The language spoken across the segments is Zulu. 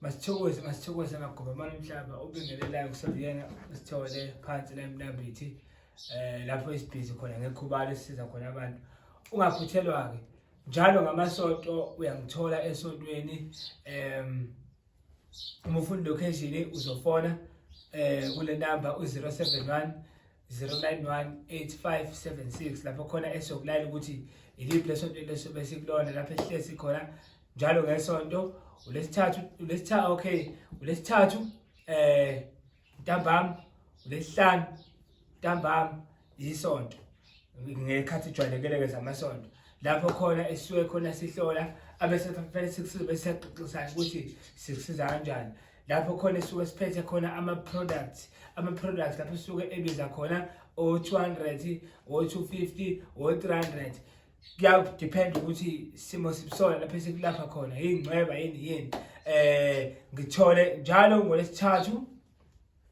masithokoze masithokoze amagoba amane umhlaba obingelelayo kusaziyena usithole phansi la emnambithi um lapho isibhizi khona ngekhubalo esisiza khona abantu ungaphuthelwa-ke njalo ngamasonto uyangithola esontweni um umufundi location uzofona um kule namba u-071 0918576 lapho khona esokulayela ukuthi iliphi lesonto lesobe sikulona lapho esihlezi khona njalo ngesonto ulesithathu ulesithathu okay ulesithathu eh ntambam ulesihlanu ntambam isonto ngekhathi ijwayelekele ke zamasonto lapho khona esisuke khona sihlola abese fanele sikusize bese siyaqoqisana ukuthi sikusiza kanjani lapho khona esuke siphethe khona ama-products ama-products lapho esuke ebiza khona o-200 o-250 o-300 kuyadepend ukuthi simo sibusona lapho esikulapha khona yingcweba yini yini um ngithole njalo ngolesithathu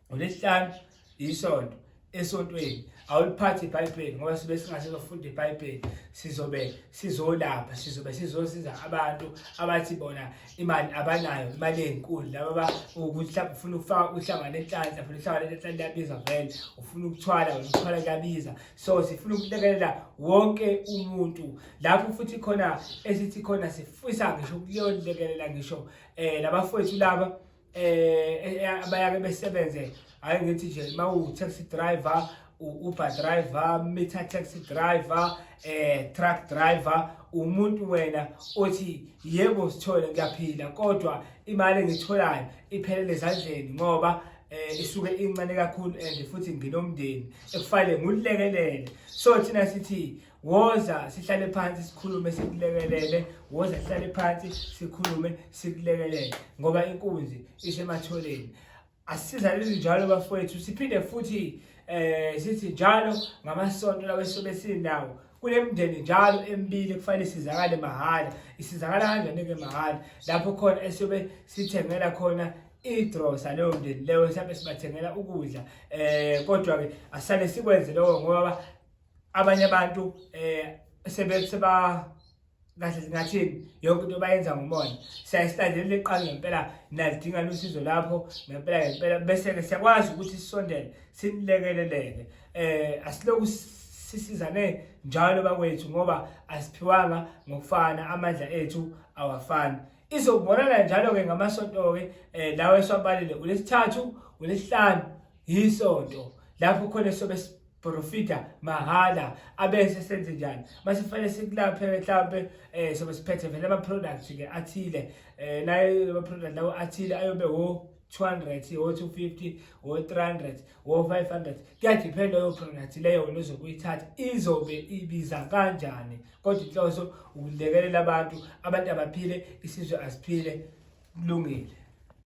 ngolesihlanu isonto esontweni awuliphathi ibhayibheli ngoba sibe singasizofunda ibhayibheli sizobe sizolapha sizobe sizosiza abantu abathi bona imali abanayo imali enkulu laba ukuthi mhlawumbe ufuna ukufaka uhlanga nenhlanhla funa uhlanga nenhlanhla liyabiza vele ufuna ukuthwala wena ukuthwala liyabiza so sifuna ukulekelela wonke umuntu lapho futhi khona esithi khona sifisa ngisho ukuyolekelela ngisho um eh, labafowethu laba eh, eh bayake besebenze hayi ngithi nje mawu taxi driver uber driver meter taxi driver eh truck driver umuntu wena othi yebo sithole ngiyaphila kodwa imali engitholayo iphelele ezandleni ngoba eh isuke incane kakhulu and futhi nginomndeni ekufanele ngulekelele so thina sithi woza sihlale phansi sikhulume sikulekelele woza sihlale phansi sikhulume sikulekelele ngoba inkunzi isematholeni asisizaleli njalo bafowethu siphinde futhi eh sithi njalo ngamasonto lawo esobe sinawo kulemndeni njalo emibili kufanele sizakale mahhala isizakala kanjani ke mahhala lapho khona esobe sithengela khona idrosa leyo mndeni leyo mhlawumbe sibathengela ukudla eh kodwa ke asale sikwenze lokho ngoba abanye abantu eh sebe seba kahle singathini yonke into bayenza ngomona siyayistandelela iqala ngempela nalidinga lusizo lapho ngempela ngempela bese-ke siyakwazi ukuthi sisondele sinilekeleleke eh asiloku sisizane njalo bakwethu ngoba asiphiwanga ngokufana amandla ethu awafani izobonana njalo-ke ngamasonto-ke um lawa esiwabalile ulesithathu ulesihlanu yisonto lapho khona sobe porofita mahhala abese senze njani mase kufanele sikulaphe mhlawumbe um eh, sobe siphethe vele ama-product-ke athile um naye ama-product lawo athile ayobe wo 200 wo 250 wo 300 wo 500 kuyadiphenda leyo product leyo wena ozokuyithatha izobe ibiza kanjani kodwa inhloso ukulekelela abantu abantu abaphile isizwe asiphile kulungile